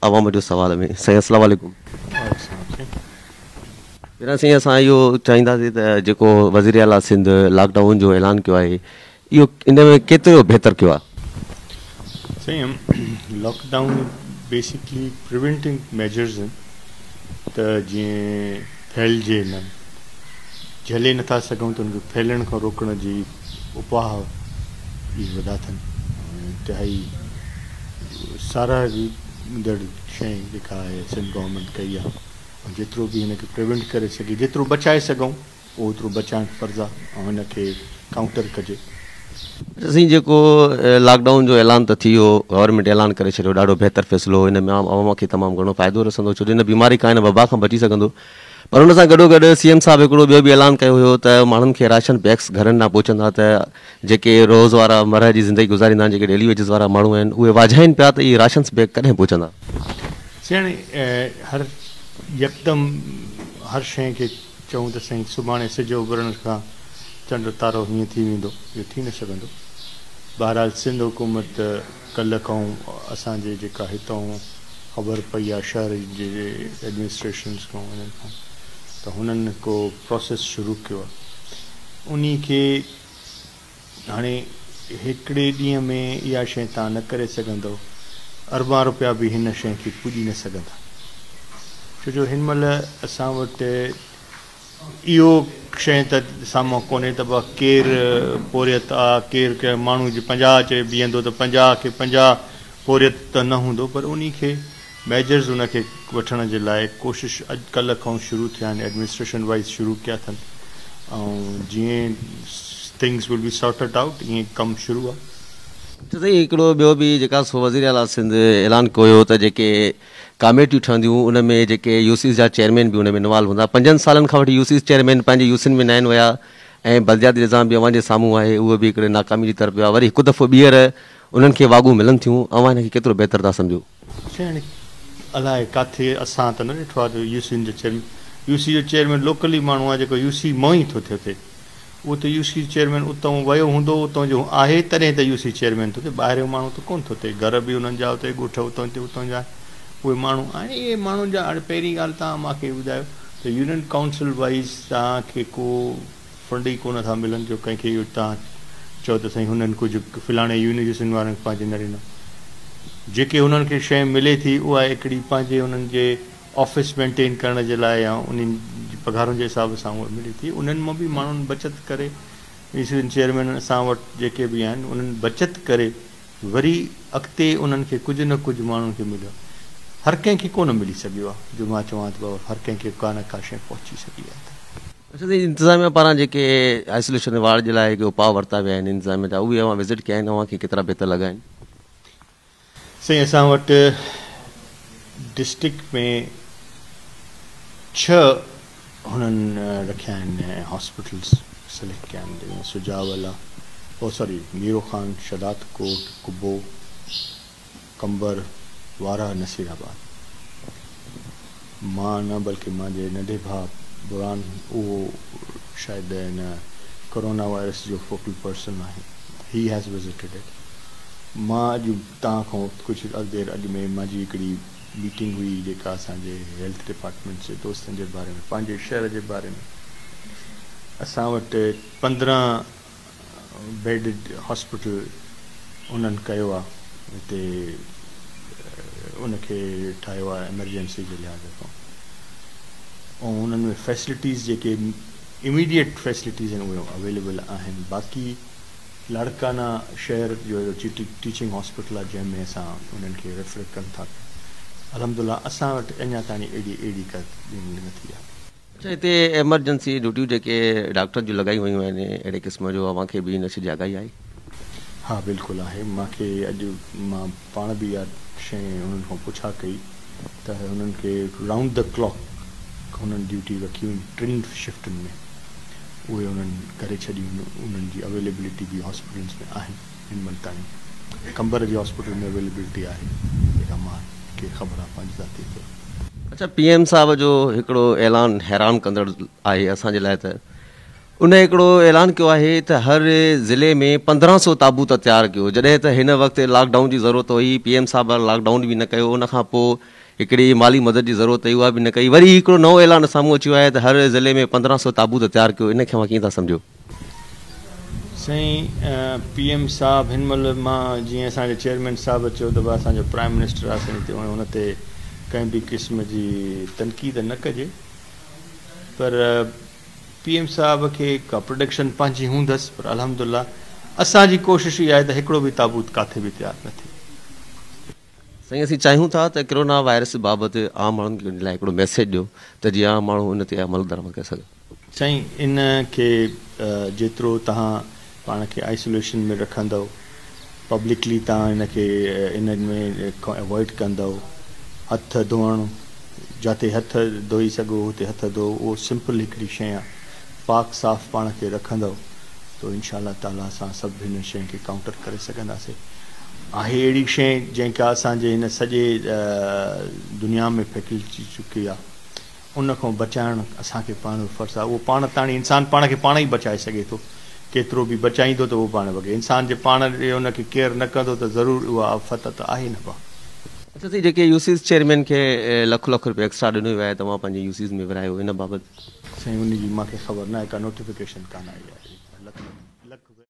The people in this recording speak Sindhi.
عوام جو سوال ۾ سائين السلام عليڪم. وعليڪم السلام سائين. پهريان سائين اسان اهو چاهينداسين ته جيڪو وزير اعليٰ سنڌ لاڪ ڊائون جو اعلان ڪيو آهي اهو ان ۾ ڪيترو بهتر ڪيو آهي؟ سائين lockdown basically preventing measures آهن ته جيئن ڦهلجي نه جهلي نٿا سگهون ته ان کي ڦهلڻ کان روڪڻ جي اپاهه جي وڌاٿن ۽ انتهائي ساراهيندڙ شيء جيڪا آهي سنڌ گورنمينٽ ڪئي آهي ۽ جيترو به هن کي پريونٽ ڪري سگهي جيترو بچائي سگهون اوترو بچائڻ فرض آهي ۽ هن کي ڪائونٽر ڪجي. سائين جيڪو لاڪ ڊائون جو اعلان ته ٿي ويو گورنمينٽ اعلان ڪري ڇڏيو ڏاڍو بهتر فيصلو هو ان مان عوام کي تمام گهڻو فائدو رسندو ڇو جو هن بيماري کان هن وبا کان بچي سگهندو. پر ان سان گڏوگڏ سي ايم صاحب هڪڙو ٻيو به اعلان ڪيو هيو ته ماڻهن کي راشن بيگس گهرن ڏانهن پهچندا ته جيڪي روز وارا مرهه جي زندگي گذاريندا آهن جيڪي ڊيلي ويجز وارا ماڻهو آهن اهي واجهائين پيا ته اهي راشنس بيگ ڪڏهن پهچندا. سياڻي هر يڪدم هر شيء کي چئون ته سائين سڀاڻي سج اڀرڻ کان چنڊ تارو هيئن ٿي ويندو اهو ٿي نه سگهندو بهرحال سنڌ حڪومت ڪلهه کانئون اسان جي جيڪا هتانئون خبر پئي آ شهر جي ايڊمنسٽريشنز کان انهن کان ته هنن هڪ پراسيس شروع ڪيو آ انهي کي هاڻي هڪڙي ڏينهن ۾ اها شئي تان نه ڪري سگهندؤ اربان روپيا به هن شئي کي پڄي نه سگهندا ڇو جو هن مهل اسان وٽ اهو شيء ته سامهون ڪونهي ته به ڪير پورهيت آ، ڪير ڪنهن ماڻهوء جي پنجاهه چئي بيهندو ته پنجاهه کي پنجاهه پورهيت ته نه هوندو پر انهي کي ميجرز ان کي وٺڻ جي لاء ڪوشش اڄ ڪلهه کانئون شروع ٿيا آهن ايڊمنسٽريشن وائيز شروع ڪيا اٿن ۽ جيئن ٿنگز ول بي سارٽڊ آئوٽ ايئن ڪم شروع آ. اچو سائين هڪڙو ٻيو به جيڪا سو وزيراعليٰ سنڌ اعلان ڪويو ته جيڪي ڪاميٽيون ٺهنديون ان ۾ جيڪي يوسيز جا چيئرمين به ان ۾ انوالو هوندا پنجن سالن کان وٺي يوسيز چيئرمين پنهنجي يوسين ۾ ناهن ويا ۽ بلدياتي نظام به اوهان جي سامهون آهي اهو به هڪڙي ناڪامي جي طرف ويو آهي وري هڪ دفعو ٻيهر انهن کي واڳون ملن ٿيون اوهان ان کي ڪيترو بهتر ٿا سمجهو. چيئرمين الاء ڪاٿي اسان ته نه ڏٺو آهي ته يوسين جو چيئرمين يوسي جو چيئرمين لوڪل ئي ماڻهو آهي جيڪو يوسي مان ئي ٿو ٿئي اتي. اهو ته يو سي چيئرمين اتئون ويو هوندو، اتئون جو آهي تڏهن ته يو سي چيئرمين ٿو ٿئي، ٻاهريون ماڻهو ته ڪونه ٿو ٿئي، گهر به انهن جا اتي ڳوٺ اتئون تي اتئون جا اهي ماڻهو آهن اهي ماڻهن جا هاڻي پهرين ڳالهه توهان مان کي ٻڌايو ته يونين ڪائونسل وائيز توهان کي ڪو فنڊ ئي ڪونه ٿا ملن جو ڪنهن کي اهو توهان چئو ته سائين هنن ڪجهه فلاڻي يونيورسين وارن پنهنجي نه ڏنو جيڪي هنن کي شئي ملي ٿي اها هڪڙي پنهنجي هنن جي آفيس مينٽين ڪرڻ جي لاء يا انهن جي پگهارن جي حساب سان اهو ملي ٿي انهن مان به ماڻهن بچت ڪري اسين چيئرمين اسان وٽ جيڪي به آهن انهن بچت ڪري وري اڳتي انهن کي ڪجهه نه ڪجهه ماڻهن کي مليو هر ڪنهن کي ڪونه ملي سگهيو آهي جو مان چوان ته بابا هر ڪنهن کي ڪا نه ڪا شيء پهچي سگهي آهي ته. اچا سائين انتظاميا پاران جيڪي آئسوليشن وارڊ جي لاء جيڪي اپاء ورتا ويا آهن انتظاميا جا اهي اوهان وزٽ ڪيا آهن اوهان کي ڪيترا بهتر لڳا آهن. سائين اسان وٽ ڊسٽرڪٽ ۾ ڇهه هنن رکيا آهن هاسپيٽلز سليڪٽ ڪيا آهن جن ۾ سجاء ولا او ساري ميرو خان شھداد ڪوٽ قبو قمبر وارهه نصير آباد مان نه بلڪه منهنجي ننڍي ڀاء برھان اهو شايد ان ڪورونا وائرس جو فوڪل پرسن آهي He has visited it مان اڄ توهان کان ڪجهه اڳ دير اڳ ۾ منهنجي هڪڙي ميٽنگ هئي جيڪا اسان جي هيلٿ ڊپارٽمينٽ جي دوستن جي باري ۾ پنهنجي شهر جي باري ۾ اسان وٽ پندرهن بيڊڊ هاسپيٽل انهن ڪيو آ هتي ان کي ٺاهيو آ ايمرجنسي جي لحاظ کان ۽ انهن ۾ فيسلٽيز جيڪي اميڊيٽ فيسلٽيز آهن اهي اويليبل آهن باقي لاڙڪانا شهر جو ٽيچنگ هاسپيٽل آ جنهن ۾ اسان انهن کي ريفر ڪن ٿا الحمدلله اسان وٽ اڃا تائين اهڙي اهڙي ڪا نٿي آ. اچا هتي ايمرجنسي ڊيوٽيون جيڪي ڊاڪٽرن جون لڳايون ويون آهن اهڙي قسم جو اوهان کي به ان شي جي آگاهي آهي؟ ها بلڪل آهي مان کي اڄ مان پاڻ به اها شيء هنن کان پڇا ڪئي ته هنن کي رائونڊ دي ڪلاڪ هنن ڊيوٽيون رکيون آهن ٽن شفٽن ۾ اهي هنن ڪري ڇڏيون آهن انهن جي اويليبلٽي به هاسپيٽلز ۾ آهن. هن مهل تائين قمبر جي هاسپيٽل ۾ اويليبلٽي آهي جيڪا مان کي خبر آهي پنهنجي ذاتي طور تي. اڇا پي ايم صاحب جو هڪڙو اعلان حيران ڪندڙ آهي اسان جي لاء ته ان هڪڙو اعلان ڪيو آهي ته هر ضلعي ۾ پندرهن سو تابوت تيار ڪيو جڏهن ته هن وقت لاڪ ڊائون جي ضرورت هئي پي ايم صاحب لاڪ ڊائون به نه ڪيو ان کان پو هڪڙي مالي مدد جي ضرورت هئي اها به نه ڪئي وري هڪڙو نئون اعلان سامهون اچيو آهي ته هر ضلعي ۾ پندرهن سو تابوت تيار ڪيو ان کي اوهان ڪيئن ٿا سمجهو. سائين پي ايم صاحب هن مهل مان جيئن اسان جي چيئرمين صاحب چيو ته اسان جو پرائم منسٽر آهي سائين تيئن ان تي ڪنهن به قسم جي تنقيد نه ڪجي پر پي ايم صاحب کي ڪا پروڊڪشن پنهنجي هوندس پر الحمد لله اسان جي ڪوشش اها آهي ته هڪڙو به تابوت ڪاٿي به تيار نه ٿئي. سائين اسين چاهيون ٿا ته ڪرونا وائرس بابت عام ماڻهن کي لاء هڪڙو ميسيج ڏيو ته جيئن عام ماڻهو ان تي عمل درآمد ڪري سگهن. سائين ان کي جيترو تهان پاڻ کي آئسوليشن ۾ رکندؤ پبلڪلي تهان ان کي ان ۾ کان اوائڊ ڪندؤ هٿ ڌوئڻ جاتي هٿ ڌوئي سگهو اتي هٿ ڌوئو اهو سمپل هڪڙي شئي آ پاڪ صاف پاڻ کي رکندؤ تو انشاء الله تعالي اسان سڀ هن شئي کي ڪائونٽر ڪري سگهنداسي آهي اهڙي شئي جنهن کي اسان جي هن سڄي دنيا ۾ ڦهڪلجي چڪي آ ان کان بچائڻ اسان کي پاڻ جو فرض آهي. اهو پاڻ تاڻي انسان پاڻ کي پاڻ ئي بچائي سگهي ٿو. ڪيترو به بچائيندو ته اهو پاڻ وڳي. انسان جي پاڻ جي ان کي ڪيئر نه ڪندو ته ضرور اها آفت ته آهي نه ڀا. اچا سائين جيڪي يوسيز چيئرمين کي لک لک روپيا ايڪسٽرا ڏنو ويو آهي توهان پنهنجي يوسيز ۾ ورهايو ان بابت. سائين ان جي مونکي خبر ناهي ڪا نوٽيفڪيشن ڪانه آئي آهي.